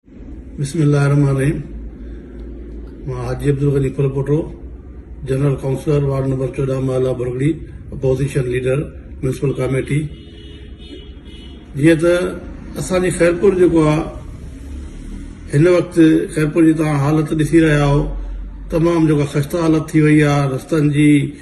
بسم الله الرحمن الرحيم مان Haji Abdul Ghani Pharpoto general councillor ward number چوڏهن محلا Bhargari opposition leader municipal committee جيئن ته اسان جي خيرپور جيڪو آ هن وقت خيرپور جي تان حالت ڏسي رهيا آهو تمام جيڪا خسته حالت ٿي وئي آ رستن جي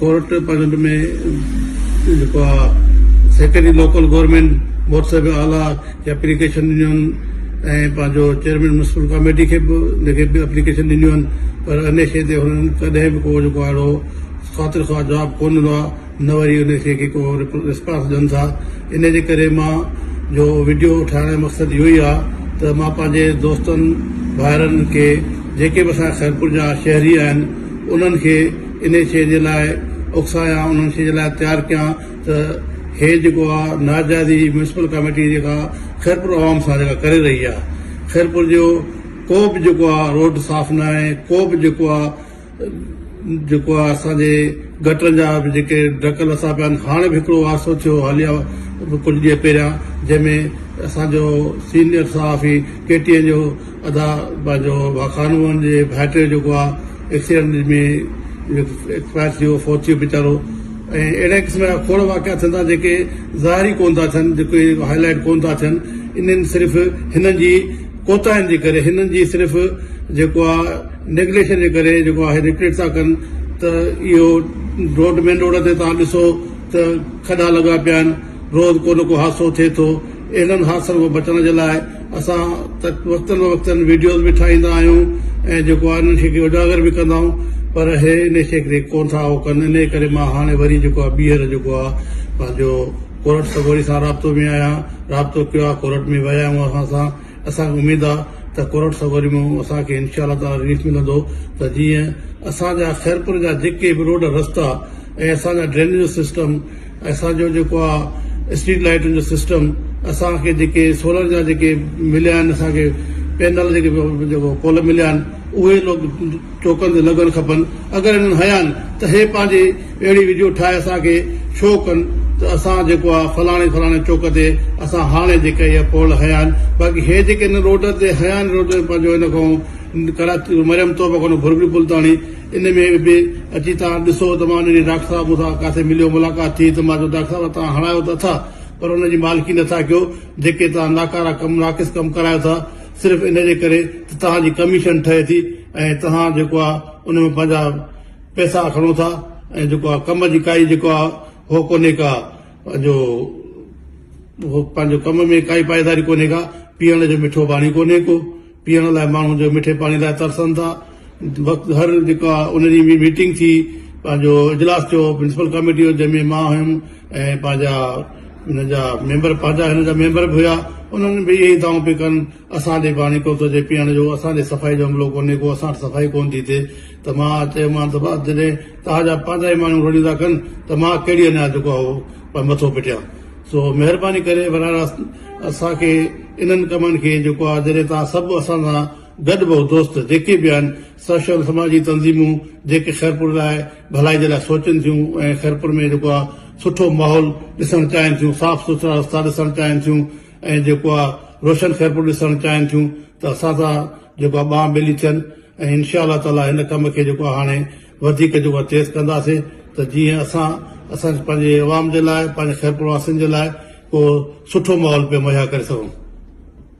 ڪورٽ پنهنجو ۾ جيڪو آهي سيڪريٽري لوڪل گورنمينٽ بورڊ صاحب اعليٰ کي اپليڪيشن ڏنيون آهن ۽ پنهنجو چيئرمين ميونسپل ڪاميٽي کي به ان کي به اپليڪيشن ڏنيون آهن پر انهي شيء تي هنن ڪڏهن به ڪو جيڪو آهي اهڙو خاطر خواهه جواب ڪونه ڏنو آهي نه وري انهي شيء کي ڪو ريسپانس ڏين ٿا انهي جي ڪري مان جو وڊيو ٺاهڻ جو مقصد اهو ئي آهي ته مان پنهنجي دوستن ڀائرن کي جيڪي به اسان جا خيرپور جا شهري آهن انهن کي انهيء شيء جي لاء اڪسايان، انهيء شيء جي لاء تيار ڪيان ته هيء جيڪو آ ناجائزي ميونسپل ڪاميٽي جيڪا خيرپور عوام سان جيڪا ڪري رهي آ، خيرپور جو ڪو به جيڪو آ روڊ صاف ناهي، ڪو به جيڪو آ جيڪو آ اسان جي گٽرن جا به جيڪي ڍڪ لٿا پيا آهن، هاڻي به هڪڙو حادثو ٿيو حاليا ڪجهه ڏينهن پهريان جنهن ۾ اسان جو سينيئر صحافي ڪي ٽي اين جو ادا پنهنجو واخان هئن جي ڀائٽي جيڪو آ ايڪسيڊنٽ ۾ ايڪسپائر ٿي ويو فوت ٿي ويو ويچارو ۽ اهڙي قسم جا کوڙ واقعا ٿين ٿا جيڪي ظاهر ئي ڪونه ٿا ٿين جيڪي هاء لائيٽ ڪونه ٿا ٿين انهن صرف هنن جي ڪوتاهين جي ڪري هنن جي صرف جيڪو آ نيگليشن جي ڪري جيڪو آ هي ريڪريٽ ٿا ڪن ته اهو روڊ مين روڊ تي توهان ڏسو ته کڏا لڳا پيا آهن روز ڪو نه ڪو حادثو ٿئي ٿو اهڙن حادثن کان بچڻ جي لاء اسان وقتن فوقت وڊيوز به ٺاهيندا آهيون ۽ جيڪو آهي انهن کي اجاگر به ڪندا آهيون پر هي انهي کي ڪري ڪونه ٿا اهو ڪن انهي ڪري مان هاڻي وري جيڪو آهي ٻيهر جيڪو آهي پنهنجو ڪورٽ سڳوري سان رابطو ۾ آهيان رابطو ڪيو آهي ڪورٽ ۾ ويا آهيون اسان سان اسان کي اميد آهي ته ڪورٽ سڳوري ۾ اسان کي انشاء الله تعالٰي رليف ملندو ته جيئن اسان جا خيرپور جا جيڪي به روڊ رستا ۽ اسان جا ڊرينيج جو سسٽم اسان جو جيڪو آ اسٽريٽ لائيٽن جو سسٽم اسان کي جيڪي سولر جا جيڪي مليا آهن اسان کي پينل جيڪي جيڪو پول مليا آهن اهي لوڪ چوڪن تي لڳڻ کپن اگر انهن هيا آهن ته هي پنهنجي اهڙي ويڊيو ٺاهي اسان کي شو ڪن ته اسان جيڪو آ فلاڻي فلاڻي چوڪ تي اسان هاڻي جيڪا اهي پول هيا آهن باقي هي جيڪي هن روڊ تي هيا آهن روڊ پنهنجو هن کان ڪراچي مريم توبه کان ڀرڳڙي پل تاڻي ان ۾ به اچي توهان ڏسو ته مان انهي ڊاڪٽر صاحب سان ڪاٿي مليو ملاقات ٿي ته مان چيو ڊاڪٽر صاحب توهان هڻايو ته اٿا پر ان جي مالڪي نه ٿا ڪيو جيڪي توهان ناڪارا ڪم ناقص ڪم ڪرايو ٿا صرف ان جي ڪري ته توهان جي ڪميشن ٺهي ٿي ۽ توهان جيڪو آ ان ۾ پنهنجا پئسا کڻو ٿا ۽ جيڪو آ ڪم جي ڪائي جيڪو آ هو ڪونهي ڪا پنهنجو پنهنجو ڪم ۾ ڪائي پائيداري ڪونهي ڪا پيئڻ جو مٺو پاڻي ڪونهي ڪو. پيئڻ لاء ماڻهو جو مٺي پاڻي لاء ترسن ٿا وقت هر جيڪا ان ڏينهن به ميٽنگ ٿي پنهنجو اجلاس ٿيو ميونسپل ڪاميٽي جو جنهن ۾ مان هيم ۽ پنهنجا ان جا ميمبر پنهنجا هن جا ميمبر به هيا انهن به اهي دعوون پي ڪن اسان ڏي پاڻي ڪو ٿو اچي پيئڻ جو اسان ڏي صفائي جو عملو ڪونهي ڪو اسان وٽ صفائي ڪون ٿي ٿئي ته مان چيومان ته بس جڏهن توهان جا پنهنجا ئي ماڻهو رڙيون ٿا ڪن ته مان ڪهڙي اڃا جيڪو آهي اهو مٿو پٽيان سو مهرباني ڪري براھ راست اسان کي انهن ڪمن کي جيڪو آ جڏهن توهان سڀ اسان سان گڏ بهه دوست جيڪي به آهن سوشل سماجي تنظيمون جيڪي خيرپور لاء ڀلائي جي لاء سوچن ٿيون ۽ خيرپور ۾ جيڪو آ سٺو ماحول ڏسڻ چاهين ٿيون صاف سٿرا رستا ڏسڻ چاهين ٿيون ۽ جيڪو آ روشن خيرپور ڏسڻ چاهين ٿيون ته اسان سان جيڪو آ ٻانهه ٻيلي ٿين ۽ انشاء الله تعالي هن ڪم کي جيڪو آ هاڻي وڌيڪ جو تيز ڪنداسين ته جيئن اسان اسان پنهنجي عوام جي لاء پنهنجي خيرپور واسين جي لاء ڪو سٺو ماحول پيا مهيا ڪري سگهون.